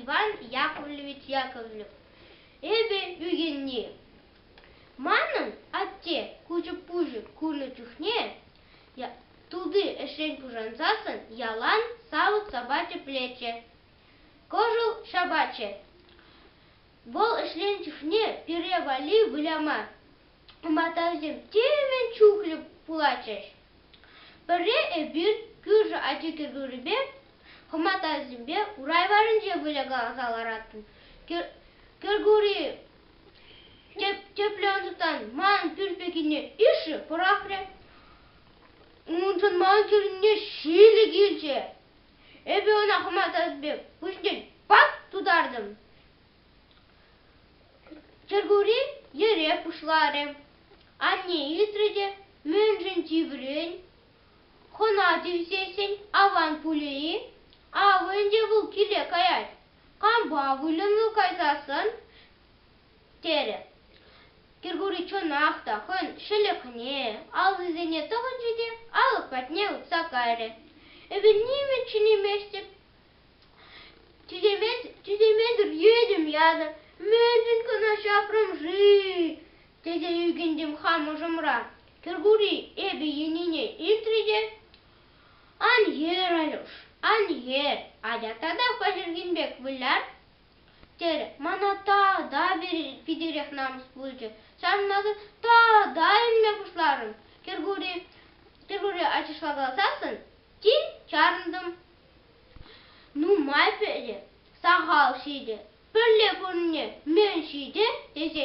Иван Яковлевич Яковлев, эпӗ ӳкӗнни. Манӑн атте кучӑк-пучӑк курнӑ чухне тути ӗҫрен пушансассӑн ялан савӑт-сапа тӗплеччӗ, кӑшӑл ҫапатчӗ. Вӑл ӗҫленӗ чухне пире валли выляма матасем темӗн чухлӗ пулатчӗҫ. Пӗрре эпир кӳршӗ ачи кӗркурипе хӑматасемпе урай варӗнче выляса лараттӑм. Кӗркури тӗплӗ ӑнсӑртан манӑн пӳрт пеккине ишӗ пӑрахрӗ. Уншӑн ман кӳренне ҫилӗ килчӗ. Эпӗ ӑна хӑмасассипе пуҫне пак тутартӑм. Чӗркури йӗре пуҫларӗ. Анне илтрӗ те мӗншӗн тиврен хӑна тивсессӗн аван пулӗ-и? Авӑ ӗнтӗ вӑл киле каять. Кампа выльӑну кайсассӑн терӗ. Кӗркури чӑнах та хӑйӗн ҫӗлӗкне, аллисене тӑхӑнчӗ те алӑк патне утса кайрӗ. Эпир чӗнместӗп, тӳсемен, тӳсемесӗр йӗтӗм янӑ, мӗншӗн кӑна ҫапрӑм-ши? тесе ӳкӗнтӗм хам ӑшӑмра. Кӗркури эпӗ йӗнине илтрӗ те, ан йӗр, Алюш, ан йӗр, атя татах паҫӑрхин пек выляр. терӗ. Мана тата питӗрех намӑс пулчӗ. Ҫавӑнпа тата илме пуҫларӑм. Кӗркури, Кӗркури ачашлакаласассӑн тин чарӑнтӑм. Нумай пӗри сахал ҫитӗ, пӗрле пурӑнни мӗн ҫитӗ тесе.